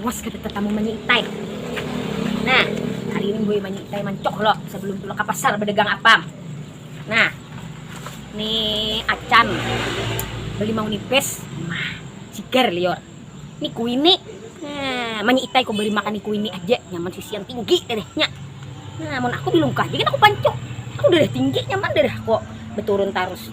awas kata tetamu manyitai nah hari ini gue manyitai mancok lo sebelum tuh ke pasar berdagang apam nah nih acan beli mau nipis mah cigar lior ini kuini nah manyitai kok beli makan kuini aja nyaman sisi yang tinggi dadahnya nah mau aku belum kah jadi aku pancok aku udah tinggi nyaman darah kok beturun tarus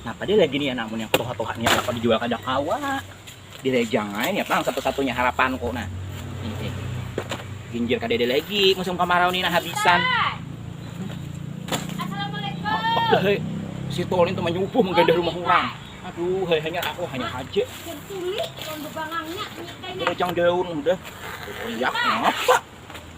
Napa dia lagi nih ya namun yang tuha-tuha nih apa dijual kada kawa. Dilejang aja nih apa satu-satunya harapanku nah. Ini. Ginjir kada ada lagi musim kemarau nih nah habisan. Assalamualaikum. Si Tolin tuh menyubuh menggadah rumah orang. Aduh, hanya aku hanya aja. Dilejang daun udah. Teriak apa?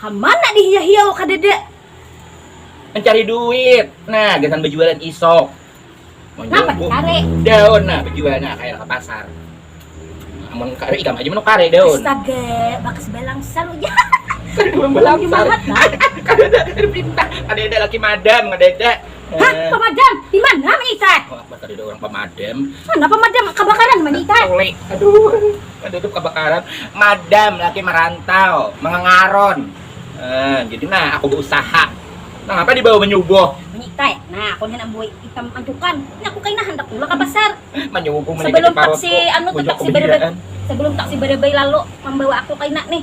Hamana di hiya hiya wa kadada. Mencari duit nah gasan bejualan isok. Napa di kare. Daun nah bejual nah kaya ka pasar. Amun kare ikam haja menukare daun. Astaga bakas balangsar ujar kada urang balangsar kadada kada pintar kadada laki madam kadada. Hah pamadam dimana menitan. Allahu akbar kadada urang pamadam. Mana pamadam kabakaran menitan. Tuli aduh. Badudup kabakaran, madam laki marantau, mangangaron. Eh, jadi nah aku bausaha. Nangapa dibawa manyuguh? Manyikai. Nah, aku nih handak buai itam mancukan. Nih aku kaina handak tulak ka pasar. Manyuguh, manyikati parutku. Sebelum taksi, anu tu taksi barabai, sebelum taksi barabai lalu mambawa aku kaina nih.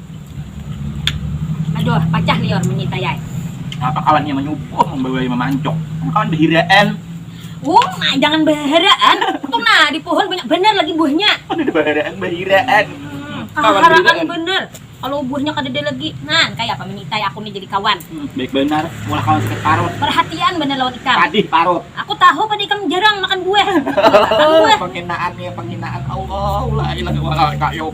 Aduh, pacah liur manyintai ai. Napa kawan nya manyubuh mambawai mamancok. Napa kawan bahiraan. Uma, jangan baharaan. Tu nah, di pohon banyak banar lagi buahnya. Kadada baharaan, bahiraan. Kaharaan banar. Kalau buahnya kadada lagi. Nah, kaya apa manyintai aku ni jadi kawan. Baik banar, maulah kawan sakit parut. Parhatian banar lawan ikam. Padih parut. Aku tahu pang ikam jarang makan buah. Panghinaan nih, panghinaan. Allahu lailah ilallah al-qayyum.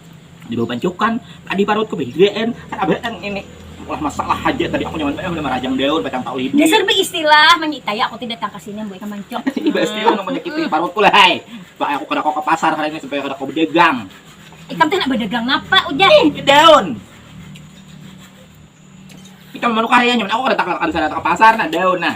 di bawah pancukan tadi parut ke BGN kan ini lah masalah aja tadi aku nyaman banget sama rajang daun batang tahu ibu dasar be istilah menyitai aku tidak datang ke sini buat ikan mancok iba istilah nang menyakiti parutku lah hai pak aku kada kok ke pasar hari ini supaya kada kok berdagang ikam tuh nak berdagang apa udah ih daun ikam manukah ya nyaman aku kada tak ke pasar nak daun nah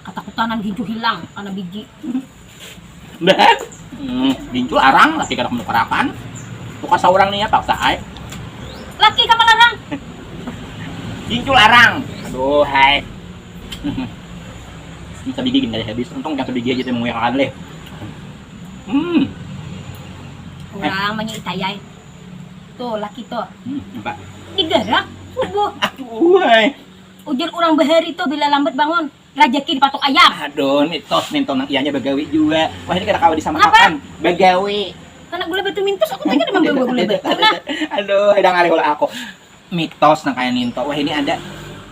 Katakutanan gincu hilang kana biji. Beh, gincu arang laki kada manukarakan, tukar saurang nih ya paksa ai. Laki ka malarang. Gincu larang, aduhai. Ini sabigi gin kada habis, untung ikam sabigi haja tadi manguyak akan leh. Hmm. Urang manyitai ai. Tuh laki tuh. Hmm, napa? Digarak, subuh. Aduhai. Ujar urang bahari tuh bila lambat bangun, rajaki dipatuk ayam. Aduh, mitos nintu nang ianya bagawi jua. Wahini kada kawa disamakakan, bagawi. Handak gula batu mintos, aku tanya kada mambawa gula batu nah. Aduh, hidang ari ulah aku. Mitos nang kaya nintu wahini ada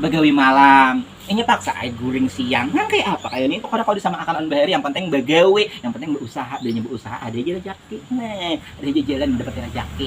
bagawi malam, inya paksa ai guring siang. Nang kaya apa kaya nintu kada kawa disamakakan lawan bahari, yang penting bagawi, yang penting bausaha. Bila inya bausaha ada haja rajaki. Nah, ada haja jalan mandapati rajaki.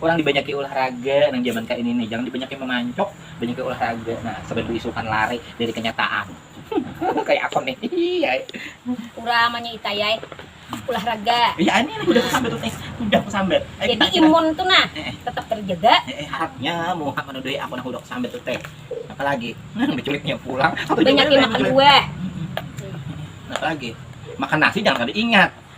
Urang dibanyaki ulah raga nang jaman kaini nih, jangan dibanyaki mamancok, banyaki ulah raga nah saban baisukan lari dari kanyataan kaya aku nih hihihi ai. Urang manyi itai ai ulah raga. Iya ai nih hudah kusambat tuh nih, hudah kusambat. Ayo kita Jadi imun tuh nah tetap terjaga. Heeh harapnya muha manuduhi aku nang hudah kusambat tuh teh. Napa lagi nah baculitnya pulang. Banyak i makan buah. Napa lagi makan nasi jangan kada ingat.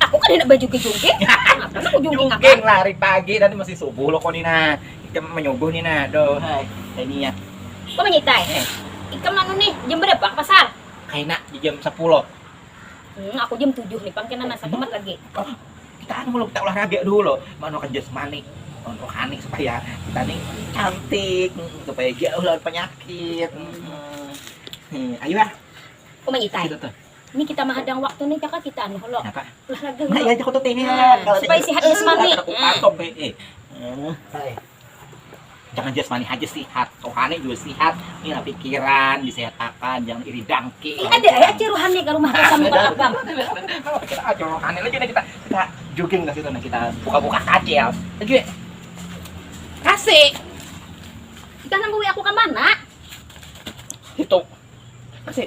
Aku kan handak bajugik-jugik. Apalah aku jugik akan. Jugik lah hari pagi tadi masih subuh lo ko ni nah. Ikam manyuguh ni nah. Aduhai, kaya ni ya. Ko manyitai. Eh. Ikam anu nih jam barapa ka pasar? Kaina di jam sapuloh. Hmm, aku jam tujuh ni pang kena nah satumat lagi. Kita anu lo, kita ulah raga dulu lo. Manuakan jasmani, manuakan rohani supaya kita ni cantik, supaya jauh lawan panyakit. Hmm. Ayu ah. Ko manyitai. Kita tuh. Ini kita mahadang waktu nih caka kita anu hulu. Napa? Olahraga hulu. Nah, iya aku tuh teh. Supaya sehat jasmani. Aku kantong teh. Eh. eh. Jangan jasmani aja sehat, rohani juga sehat. Ini lah pikiran disehatakan, jangan iri dangki. Eh, ada ya aja rohani ke rumah kita muka abang. Kalau kita aja rohani lagi kita kita jogging ke situ nah kita buka-buka kacil. Lagi. Kasih. Kita nang aku ke mana? Itu. Kasih.